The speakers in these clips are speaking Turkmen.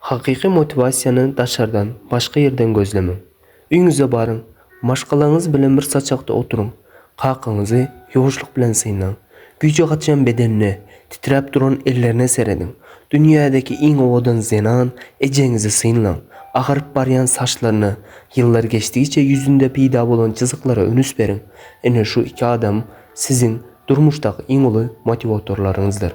Hakyky motiwasiýany daşardan, başga ýerden gözlemäň. Öýüňize baryň, maşgalaňyz bilen bir saçakda oturyň, kakaňyzy ýuwaşlyk bilen synlaň, güýji gaçýan bedenine, titräp duran ellerine serediň, dünýädäki iň owadan zenan ejeňizi synlaň, agaryp barýan saçlaryna, ýyllar geçdigiçe ýüzünde peýda bolan çyzyklara ünüs beriň. Ine şu iki adam siziň durmuşdaky iň uly motiwatorlaryňyzdyr.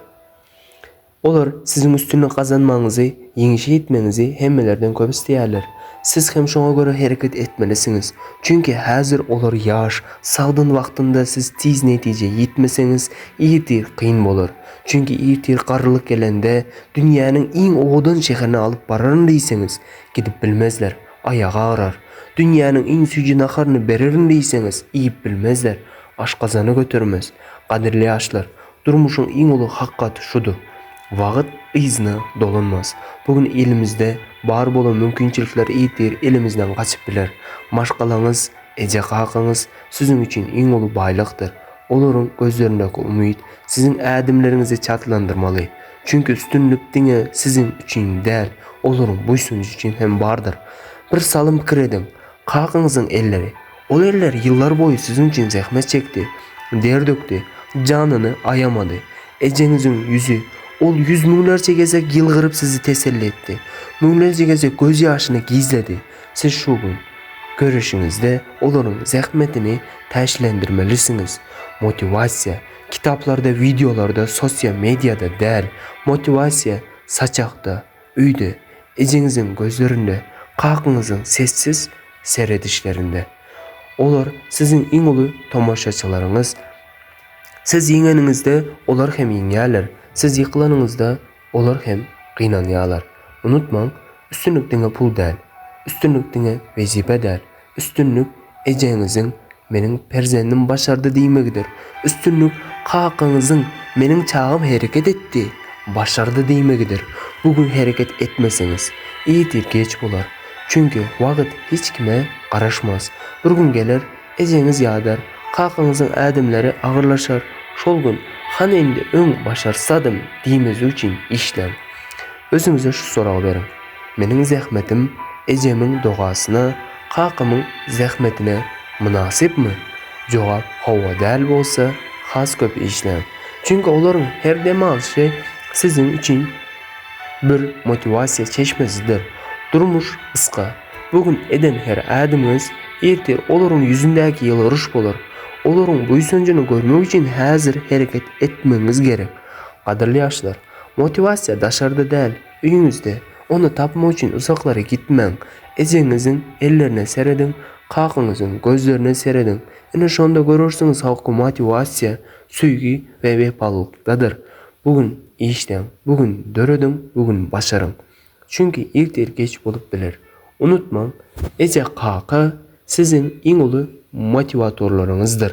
Olar siziň üstünlik gazanmagyňyzy, ýeňişe ýetmegiňizi hemmelerden köp isleýärler. Siz hem şoňa görä hereket etmelisiňiz. Çünki häzir olar ýaş, sagdyn wagtynda siz tiz netijä ýetmeseňiz, irtir kyn bolar. Çünki irtir garrylyk gelende, dünýäniň iň owadan şäherine alyp bararyn diýseňiz, gidip bilmezler, aýagy agrar. Dünýäniň iň süýji naharyny bererin diýseňiz, iýip bilmezler, aşgazany götermez. Gadyrly ýaşlar, Durmuşyň iň uly hakykaty şudur, wagyt yzyna dolanmaz. Bu gün elimizde bar bolan mümkinçilikler ertir elimizden gaçyp biler. Maşgalaňyz, eje-kakaňyz siziň üçin iň uly baýlykdyr. Olaryň gözlerindäki umyt siziň ädimleriňizi çaltlandyrmaly. Çünki üstünlik diňe siziň üçin däl, olaryň buýsanjy üçin hem bardyr. Bir salym pikir ediň, kakaňyzyň elleri Ol erler ýyllar boýy siziň üçin zähmet çekdi, der dökdi, janyny aýamady. Ejeňiziň ýüzi, ol ýüz müňlerçe gezek ýylgyryp sizi teselli etdi, müňlerçe gezek göz ýaşyny gizledi. Siz şu gün, göreşiňizde olaryň zähmetini täşlendirmelisiňiz. Motiwasiýa, kitaplarda, wideolarda, sosial mediada däl. Motiwasiýa, saçakda. Öýde, ejeňiziň gözlerinde, kakyňyzyň sessiz seredişlerinde. Olar siziň iň uly tomaşaçylaryňyz. Siz ýeňeniňizde, olar hem ýeňýärler, siz ýykylanyňyzda, olar hem gynanýarlar. Unutmaň, üstünlik diňe pul däl. Üstünlik diňe wezipe däl. Üstünlik ejeňiziň Meniň perzendim başardy diýmegidir. Üstünlik kakaňyzyň Meniň çagam hereket etdi, başardy diýmegidir. Bu gün hereket etmeseňiz, irtir geç bolar. Çünki wagt hiç kime garaşmaz. Bir gün geler, ejeňiz ýadar, kakaňyzyň ädimleri agyrlaşar. Şol gün Hany indi öň başarsadym diýmezlik üçin işläň. Özüňize şu soragy beriň. Meniň zähmetim ejemiň dogasyna, kakamyň zähmetine mynasypmy? Jogap hawa däl bolsa, has köp işläň. Çünki olaryň her dem alşy siziň üçin bir motiwasiýa çeşmesidir. Durmuş gysga. Bu gün eden her ädimiňiz erte olaryň ýüzündäki ýylgyryş bolar. Olaryň buýsanjyny görmek üçin häzir hereket etmegiňiz gerek. Gadyrly ýaşlar, motiwasiýa daşarda däl. Öýüňizde ony tapmak üçin uzaklara gitmäň. Ejeňiziň ellerine serediň, kakaňyzyň gözlerine serediň. Ine şonda görersiňiz halky motiwasiýa, söýgi we wepalylykdadyr. Bu gün işleň, bu gün dörediň, bu gün başaryň. Çünki ertir geç bolup biler. Unutmaň, eje-kaka siziň iň uly motiwatorlaryňyzdyr.